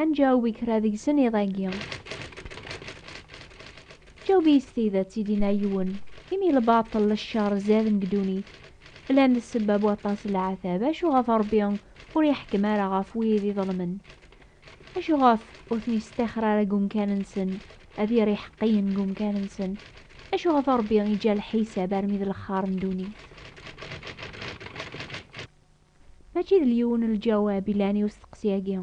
Ad nǧaweb i kra deg-sen iḍ-agi. Ǧaweb-iyi s tidet, i d-yenna yiwen, imi lbaṭel d cceṛ zzaden deg ddunit, llan d ssebba n waṭas n leɛtab, acu ɣef Ṛebbi ur iḥekkem ara ɣef wid iḍelmen? Acu ɣef ur ten-isṭixxer ara deg wemkan-nsen, ad yerr iḥeqqiyen deg wemkan-nsen? Acu ɣef Ṛebbi iǧǧa lḥisab armi d lexxaṛ n ddunit? Mačči d lyiwen lǧawab i lɛan i usteqsi-agi.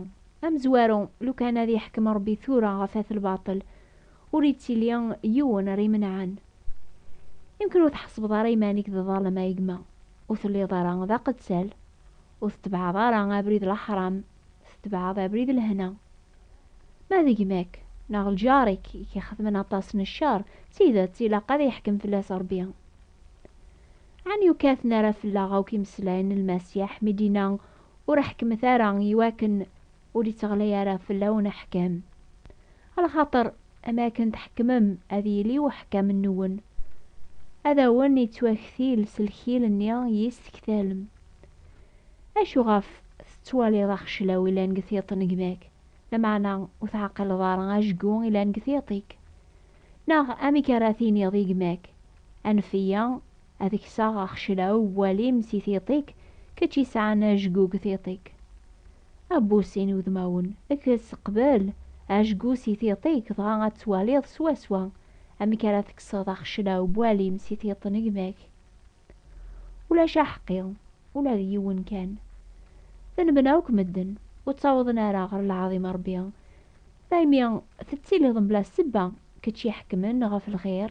Amezwaru, lukan ad yeḥkem Rebbi tura ɣef at lbaṭel, ur ittili yiwen ara imenɛen. Imken ur tḥesbeḍ ara iman-ik d ḍalem a gma, ur telliḍ ara d aqettal, ur tetbeɛeḍ ara abrid laḥram, tetbeɛeḍ abrid lehna. Ma d gma-k neɣ lǧar-ik i k-ixedmen aṭas n ccer, d tidet ilaq ad yeḥkem fell-as Rebbi. Ɛni ur katen ara fell-aɣ akk imeslayen n Lmasiḥ mi d-yenna, Ur ḥekmet ara, i wakken ur itteɣlay ara fell-awen aḥkam? Lxaṭer am akken tḥekmem, ad yili uḥkam-nwen ad awen-ittwaktil s lkil-nni i yi-s-tektalem. Acu ɣef tettwaliḍ axeclaw ilan deg tiṭ n gma-k, lameɛna ur teɛqileḍ ara ajgu ilan deg tiṭ-ik? Neɣ amek ara tiniḍ i gma-k, Anef-iyi ad kseɣ axeclaw n walim si tiṭ-ik, kečč i sɛan ajgug tiṭ-ik. A Busin udmawen, kkes, qbel, ajgu si tiṭ-ik dɣa ad twaliḍ swaswa amek ara tekseḍ axeclaw n walim si tiṭ n gma-k. Ulac aḥeqqi, ula d yiwen kan. Denben akk medden, ur ttawḍen ara ɣer lɛaḍima Ṛebbi. Daymi tettiliḍ mebla ssebba, kečč iḥekmen ɣef lxir.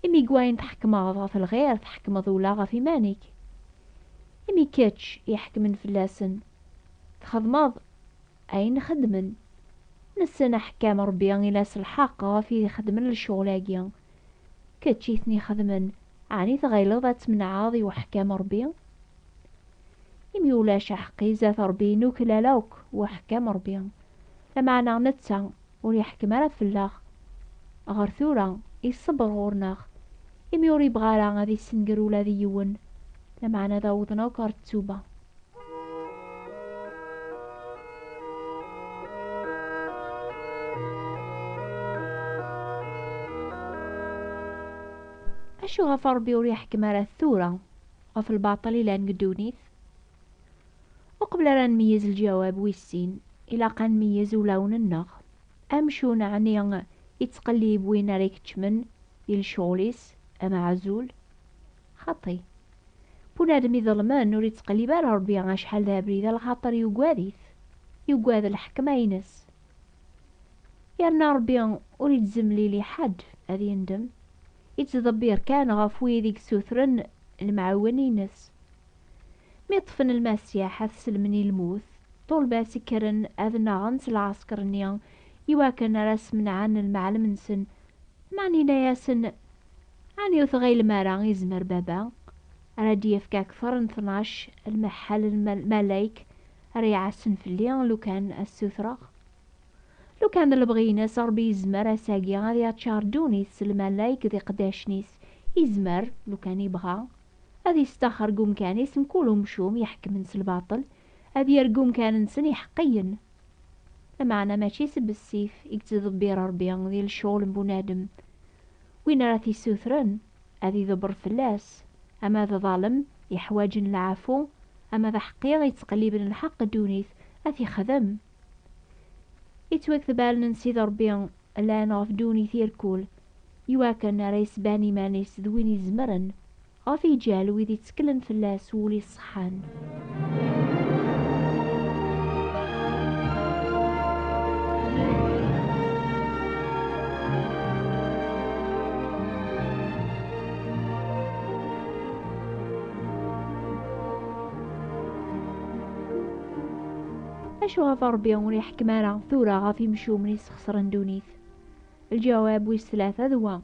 Imi deg wayen tḥekmeḍ ɣef lxir tḥekmeḍ ula ɣef iman-ik. Imi kečč iḥekmen fell-asen, txedmeḍ ayen xeddmen. Nessen aḥekkam Ṛebbi ila s lḥeqq ɣef i xeddmen lecɣal-agi. Kečč i ten-ixedmen, ɛni tɣileḍ ad tmenɛeḍ i uḥkam Ṛebbi? Imi ulac aḥeqqi zdat Ṛebbi nuklal akk uḥkam Ṛebbi, lameɛna netta ur iḥkem ara fell-aɣ. Ɣer tura, iṣebber ɣur-neɣ, imi ur ibɣi ara ad issenger ula d yiwen, lameɛna ad awḍen akk ɣer ttuba. Acu ɣef Ṛebbi ur iḥkem ara tura ɣef lbaṭel ilan deg ddunit? Uqbel ara nmeyyez lǧawab wis sin, ilaq ad nmeyyez ulawen-nneɣ. Amcum ɛni yettqellib win ara ikeččmen di lecɣal-is amaɛzul? Xaṭi, bunadem iḍelmen ur ittqellib ara Ṛebbi acḥal d abrid, lxaṭer yugad-it, yugad lḥekma-ines. Yerna Ṛebbi ur itzemlil i ḥedd ad yendem, ittḍebbir kan ɣef wid i yessutren lemɛiwen-ines. Mi ṭṭfen Lmasiḥ ad t-sellmen i lmut, ṭṭulba-s kkren ad nnaɣen s lɛesker-nni iwakken ara smenɛen lmeɛlem-nsen, meɛna yenna-yasen, Ɛni ur tɣilem ara yezmer Baba ara d-yefk akteṛ n tnac lmeḥḥal n lmalayek ara iɛassen fell-i lukan ad ssutreɣ? Lukan d lebɣi-ines Ṛebbi yezmer ass-agi ad yaččar ddunit s lmalayek d iqeddacen-is, yezmer, lukan yebɣa, ad yestaxer deg umkan-is mkul umcum iḥekkmen s lbaṭel, ad yerr deg umkan-nsen iḥeqqiyen. Lameɛna mačči s bessif i yettḍebbir Ṛebbi di lecɣal n bunadem. Win ara t-issutren, ad iḍebber fell-as, ama d ḍalem, iḥwaǧen lɛafu, ama d aḥeqqi, ittqelliben lḥeqq ddunit, ad t-ixdem. Ittwaktbalen n Sidi Ṛebbi llan ɣef ddunit irkul, iwakken ara yesban iman-is d win izemren Ɣef iǧal wid itteklen fell-as s wul iṣeḥḥan. Acu ɣef Ṛebbi ur iḥekkem ara tura ɣef imcumen i sxesren ddunit? Lǧawab wis tlata d wa,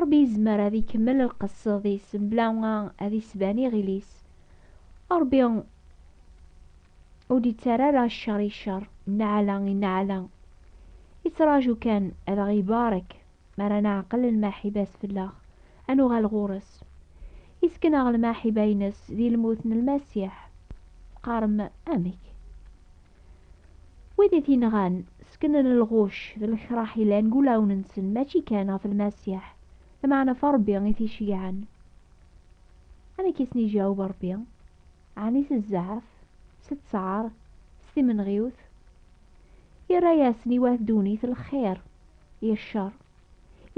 Ṛebbi yezmer ad ikemmel lqesd-is mebla ad isban iɣil-is. Ṛebbi ur d-ittarra ara cceṛ i cceṛ, nneɛla i nneɛla. Ittraǧu kan ad aɣ-ibarek mi ara neɛqel lmaḥiba-s fell-aɣ, ad nuɣal ɣur-s. Isken-aɣ lmaḥiba-ines di lmut n Lmasiḥ. Teqqarem, Amek? Wid i t-inɣan, sseknen lɣucc d lekṛaḥ yellan deg wulawen-nsen, mačči kan ɣef Lmasiḥ, lameɛna ɣef Ṛebbi i t-iceyyɛen. Amek i sen-iǧaweb Ṛebbi? Ɛni s zzeɛf, s ttɛar, s timenɣiwt? Irra-yasen i wat ddunit lxir, i cceṛ.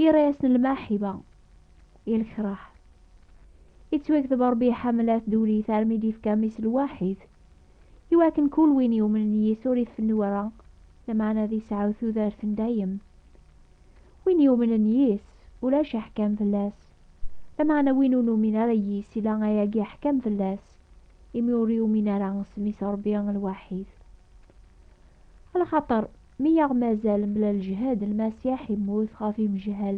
Irra-yasen lmaḥiba, i lekṛaḥ. Yettwakteb Ṛebbi iḥemmel at ddunit armi d-yefka Mmi-s lwaḥid, i wakken kul win yumnen yis ur ifennu ara, lameɛna ad isɛu tudert n dayem. Win yumnen yis, ulac aḥkam fell-as, lameɛna win ur numin ara yis ila ayagi aḥkam fell-as, imi ur yumin ara s mmi-s Ṛebbi lwaḥid. Axaṭer mi aɣ-mazal mebla lejhed, Lmasiḥ immut ɣef imejhal,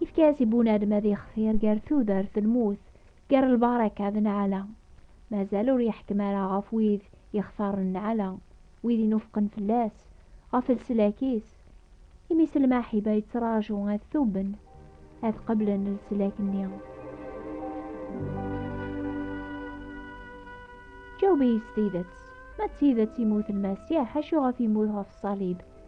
Yefka-as i bunadem ad yextir gar tudert d lmut, gar lbaraka d nneɛla. Mazal ur yeḥkem ara ɣef wid yextaren nneɛla, wid inufqen fell-as, ɣef leslak-is. Imi s lmaḥiba yettraǧu ad tuben, ad qeblen leslak-nni. Ǧaweb-iyi s tidet, ma d tidet yemmut Lmasiḥ, acu ɣef yemmut ɣef ṣṣalib?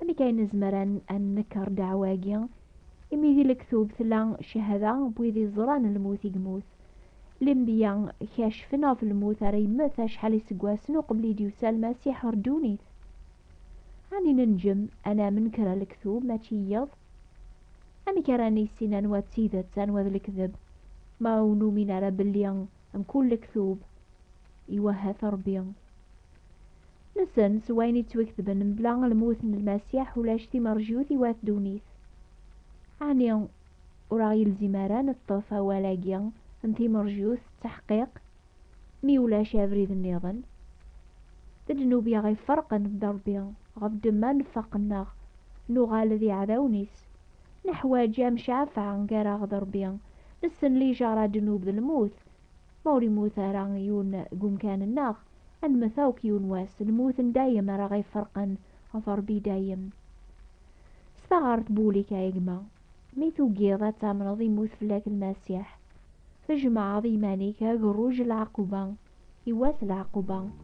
Amek ay nezmer ad nenker ddeɛwa-agi? Imi di lektub tella cehada n wid yeẓran lmut i yemmut. Lenbiya kacfen ɣef lmut ara yemmet acḥal iseggasen uqbel i d-yusa Lmasiḥ ɣer ddunit. Ɛni nenjem ad namen kra n lektub mačči i yiḍ? Amek ara nissin anwa d tidet, anwa d lekdeb, ma ur numin ara belli mkul lektub iwehha-t Rebbi? Nsen s wayen yettwaketben mebla lmut n Lmasiḥ ulac timerjut i wat ddunit. Ɛni ur aɣ-yelzim ara ad neṭṭef awal-agi n timerjut d taḥqiq mi ulac abrid nniḍen? D ddnub i aɣ-iferqen d Rebbi, ɣef ddemma nfaq-nneɣ, nuɣal d iɛdawen-is. Neḥwaǧ amcafeɛ gar-aɣ d Rebbi, nessen lijaṛa ddnub d lmut, Ma ur yemmut ara yiwen deg umkan-nneɣ, ad nemmet akk yiwen wass, nemmut n dayem ara ɣ-iferqen ɣef Rebbi i dayem. S taɣert Boulik a gma, mi tugiḍ ad tamneḍ yemmut fell-ak Lmasiḥ, tjemɛeḍ iman-ik a gerruj n lɛaquba i wass n lɛaquba.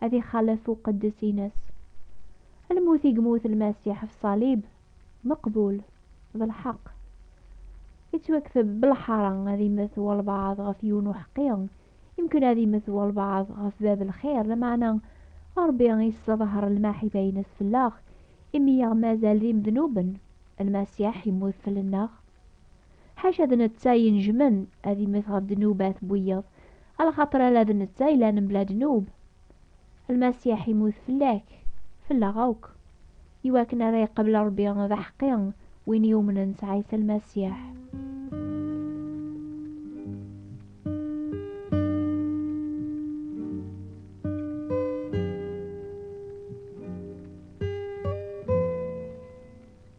ad ixalef uqeddes-ines. Lmut i yemmut Lmasiḥ ɣef ṣṣalib, meqbul, d lḥeqq. Yettwakteb b lḥara ad immet walbaɛḍ ɣef yiwen uḥeqqi, yemken ad immet walbaɛḍ ɣef bab lxir, lameɛna Ṛebbi yesseḍher lmaḥiba-ines fell-aɣ, imi i aɣ-mazal d imednuben, Lmasiḥ yemmut fell-nneɣ. Ḥaca d netta i inejjmen ad immet ɣef ddnubat n wiyeḍ, Ala xaṭer ala d netta yellan mebla ddnub. Lmasiḥ yemmut fell-ak, fell-aɣ akk, i wakken ara yeqqbel Ṛebbi d aḥeqqi win yumnen s Ɛisa Lmasiḥ.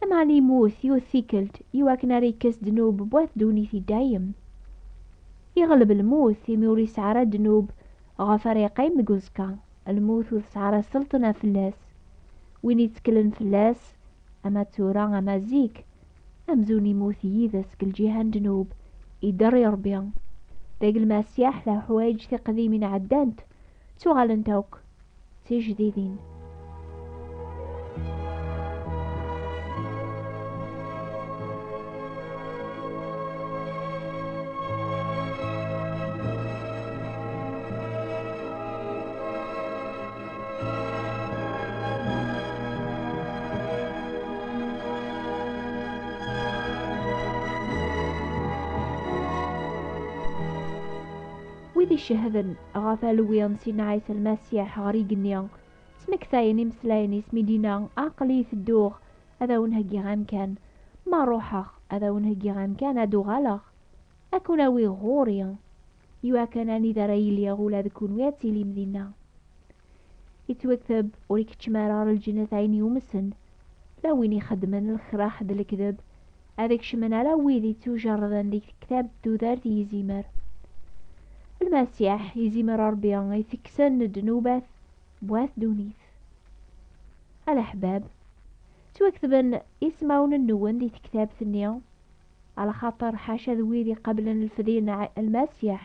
Lameɛna yemmut yiwet tikkelt i wakken ara yekkes ddnub n wat ddunit i dayem. Yeɣleb lmut imi ur yesɛi ara ddnub ɣef ara yeqqim deg uẓekka, lmut ur tesɛi ara sselṭna fell-as. Win yetteklen fell-as, ama tura ama zik, amzun yemmut yid-s deg lǧiha n ddnub, idder i Rebbi. Dagi Lmasiḥ d aḥwayeǧ tiqdimin ɛeddant, ttuɣalent akk d tijdidin. Wid icehden Ɣef alwi n Sidna Ɛisa Lmasiḥ ɣer igenni, ttmektayen imeslayen-is mi d-inna, Aql-i tedduɣ ad awen-heggiɣ amkan, ma ruḥeɣ ad awen-heggiɣ amkan ad d-uɣaleɣ ad ken-awiɣ ɣur-i, iwakken anida ara iliɣ ula d kunwi ad tilim dinna. Yettwakteb ur ikeččem ara ar lǧennet ɛin yumsen, la win ixeddmen lexraḥ d lekdeb, ad kecmen ala wid ittujerrden deg tektabt d tudert yizimer. Lmasiḥ, yizimer Rebbi itekksen ddnubat n wat ddunit. A leḥbab, ttwaktben ismawen-nwen di tektabt-nni, alaxaṭer ḥaca d wid iqablen lfedi n Lmasiḥ,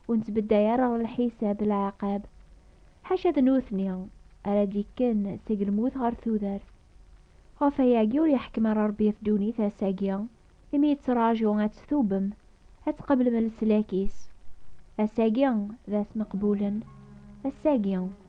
ur nettbedday ara ɣer lḥisab lɛaqab, ḥaca d nutni ara d-ikken seg lmut ɣer tudert. Ɣef wayagi ur yeḥkem ara Rebbi ddunit ass-agi, imi yettraǧu ad tt-tubbem, ad tqeblem leslak-is. Ass-agi d ass meqbulen, ass-agi.